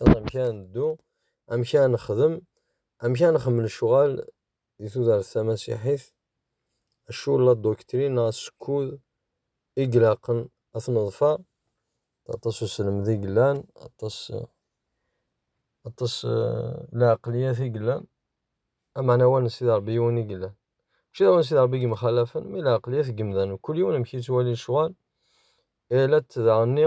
Aẓ amek ara neddu, amek ara nexdem, amek ara nxemmel ccɣal di tudert tamasiḥit, acu la doctrine neɣ asekkud i ilaqen ad t-neḍfer, aṭas uselmed i yellan, aṭas aṭas lɛeqliyat i yellan, ameɛna wa n Sidi Ṛebbi yiwen i yellan. Mačči d awen n Sidi Ṛebbi i yemxalafen, mi lɛeqliyat n yemdanen, kul yiwen amek yettwali lecɣal, irra-t daɣenni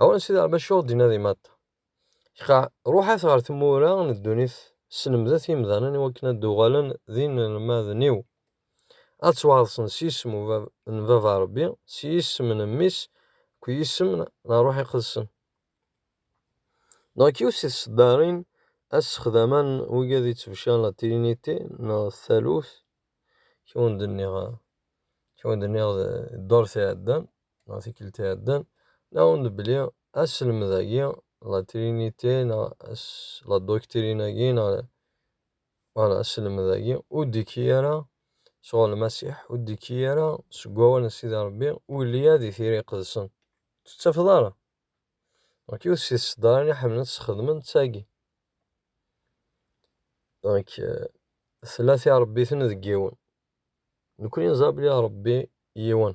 Awal Sidi Rebbi acuɣ d-inadi maḍ? Qa, ruḥat ɣer tmura n ddunit, slemdet imdanen iwakken ad d-uɣalen d inelmaden-iw, ad ttwaɛḍsen s yisem n Baba Rebbi, s yisem n Mmi-s akked yisem n Ṛṛuḥ Iqedsen. Donc, yiwet si tseddarin assexdama n wigi ad ittebcaren la Trinité neɣ Taluft, kra ur d-nniɣ, kra ur d-nniɣ ddurt iɛeddan. neɣ tikkelt iɛeddan, nɛawen-d belli aselmed-agi, la trinité neɣ la doctrine-agi neɣ wala aselmed-agi ur d-ikki ara sɣur Lmasiḥ, ur d-ikki ara seg wawal n Sidi Ṛebbi, ur yelli ara di Tira Iqedsen. Ur tt-tettafeḍ ara. Donc yiwet si tseddarin i ḥemmlen ad tt-sxedmen d tagi. Donc tella tiṛebbit-nni deg yiwen. Nekkni neẓra belli Ṛebbi yiwen.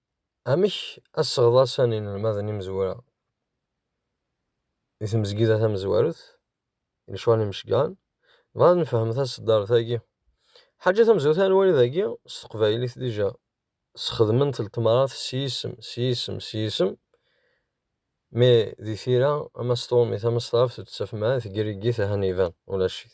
Amek asseɣḍas n yinelmaden imezwura di tmezgida tamezwarut, i lecɣal n yimecgaren, nebɣa ad nefhem taseddart-agi. Ḥaǧa tamezwarut ara nwali dagi, s teqbaylit dija sxedment ltemrat s yisem, s yisem, s yisem, mi di tira ama s tṛumit ama s tɣaft ur d-ttafem ara, tgeryegit ahan iban ulac-it.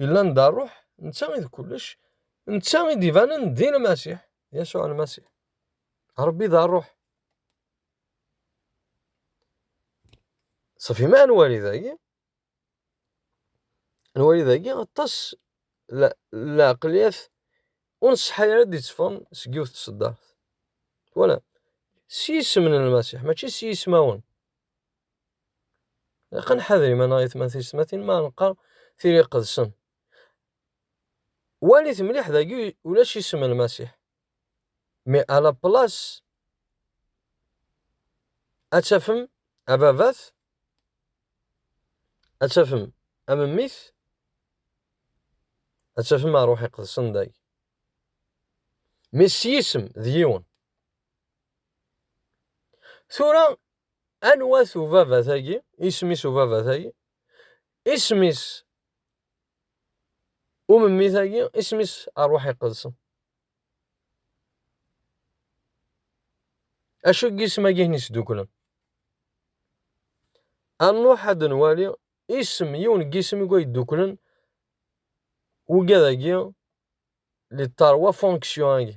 Yella anda nruḥ, netta i d kullec, netta i d-ibanen d Lmasiḥ, Yasuɛ Lmasiḥ. Ṛebbi d ṛṛuḥ. Ṣṣfi ma nwali dagi, nwali dagi aṭas lɛeqliyat ur nṣeḥḥa ara d-itteffɣen seg yiwet tṣeddart. Twalam? S yisem n Lmasiḥ, mačči s yismawen. Ilaq ad nḥader iman-nneɣ i tmant tiyesmatin mi ara neqqar tili iqedsen. Walit mliḥ dagi ulac isem n Lmasiḥ. Mi à la place ad tafem ababat, ad tafem amemmit, ad tafem ṛṛuḥ iqedsen dagi. Mi s yisem d yiwen. Tura Anwa-t ubabat-agi? Isem-is ubabat-agi? Isem-is umemmit-agi? Isem-is Ṛṛuḥ Iqedsen? Acu n yisem-agi i sduklen? Anṛuḥ ad nwali isem, yiwen n yisem i yedduklen ugad-agi li ṭarwa fonksyon-agi.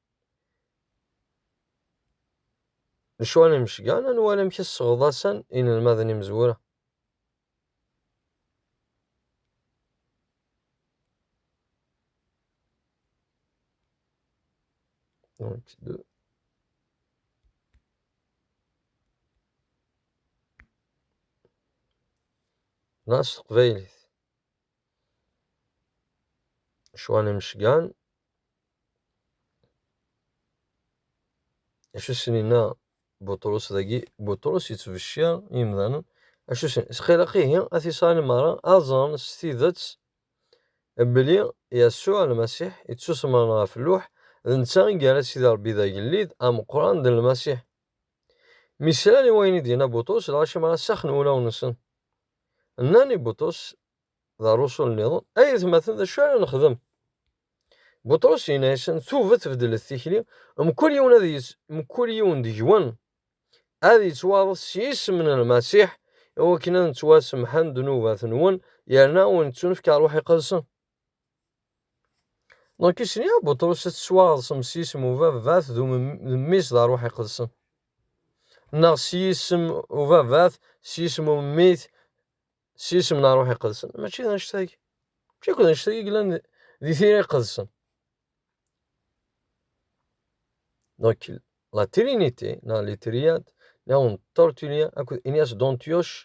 Lecɣal imecgan, ad nwali amek i sseɣḍasen inelmaden imezwura. Donc, deux. Là, s teqbaylit. Lecɣal imecgan, acu sen-inna Buṭrus dagi Buṭrus yettbecciṛ imdanen acu sen isqilaq ihi at Isṛayil meṛṛa ad ẓren s tidet belli Yasuɛ Lmasiḥ yettusemṛen ɣef lluḥ d netta i yerra Sidi Ṛebbi d agellid ameqqran d Lmasiḥ mi slan i wayen i d-yenna Buṭrus lɣaci meṛṛa saxen wulawen-nsen nnan i Buṭrus D arusu nniḍen. Ay atmaten, d acu ara nexdem? Buṭrus yenna-yasen, Tuget beddlet tikli, mkul yiwen ad yett, mkul yiwen deg-wen ad yettwaɣet s yisem n Lmasiḥ, i wakken ad nettwasemḥen ddnubat-nwen, yerna ad wen-ittunefk Ṛṛuḥ Iqedsen. Donc isni a Buṭrus ad tettwaɣeḍsem s yisem ubabat d umemmis d Ṛṛuḥ Iqedsen. Neɣ s yisem ubabat, s yisem umemmit, s yisem n ṛṛuḥ iqedsen mačči d annect-agi mačči akk d annect-agi yellan di tira iqedsen donc la trinité neɣ les triades neɣ un tortulia akked Ignace d'Antioche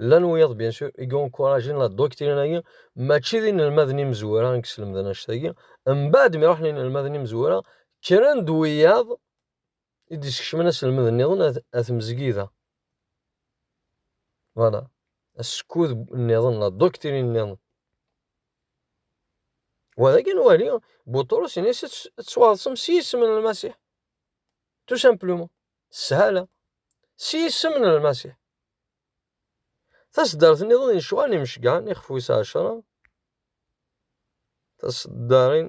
llan wiyaḍ bien sûr i yencouragin la doctrine-agi mačči d inelmaden imezwura i yeslemden annect-agi mbaɛd mi ruḥen inelmaden imezwura kkren-d wiyaḍ i d-iskecmen aselmed nniḍen ar tmezgida. Voilà. Askud nniḍen, la doctrine nniḍen. Wa d akken wali, Buṭrus in-as ad tettwaḍsem s yisem n Lmasiḥ. Tout simplement. Shala. S yisem n Lmasiḥ. Taseddart nniḍen n lecɣal imceggɛen ixef wis ɛecra. Taseddarin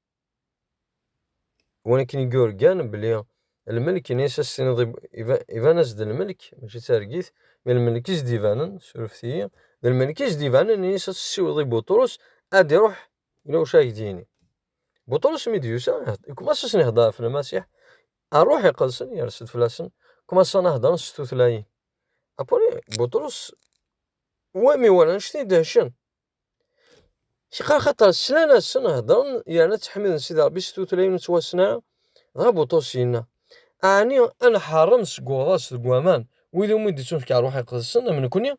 Win akken i yurgan belli lmelk ini as as-tiniḍ iban-as-d lmelk mačči d targit, mi lmelk i s-d-ibanen, surfet-iyi, d lmelk i s-d-ibanen ini as as-ssiweḍ i Buṭrus ad iruḥ ila wacu ara ak-d-yini. Buṭrus mi d-yusa, ikumas asen ihedder ɣef Lmasiḥ, rruḥ iqedsen yers-d fell-asen, kumasan a heddren s tutlayin. Apuni Buṭrus wami wala anect-nni dehcen, Cqa axaṭer slan-asen, heddren yerna ttḥemmiden Sidi Ṛebbi s tutlayin n twassna, dɣa Buṭus yenna, Ɛni ad nḥeṛṛem seg uɣḍaṣ deg waman wid umi d-ittunefk ṛṛuḥ iqedsen, am nekkni?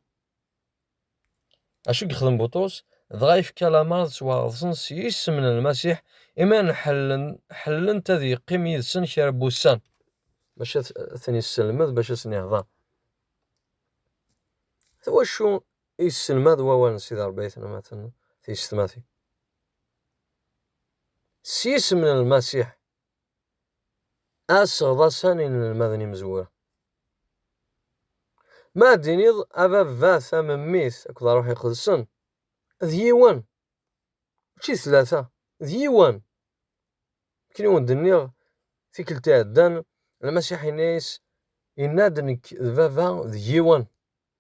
Acu i yexdem Buṭus? Dɣa yefka lameṛ ad ttwaɣeḍsen s yisem n Lmasiḥ, imi ad nḥellen, ḥellent ad yeqqim yid-sen kra n wussan. Bac ad ten-yesselmed, bac ad sen-ihdeṛ. D wacu Yesselmad wawal n Sidi Rebbi aytnematen tiyessetmatin. S yisem n Lmasiḥ, aseɣ-d asan inelmaden imezwura. Ma ad d-tiniḍ a Baba, ta Memmit akked Ṛṛuḥ Iqedsen, d yiwen, mačči d tlata, d yiwen. Akken i wen-d-nniɣ tikkelt iɛeddan, Lmasiḥ yenna-yas, yenna-d, Nekk d Baba d yiwen.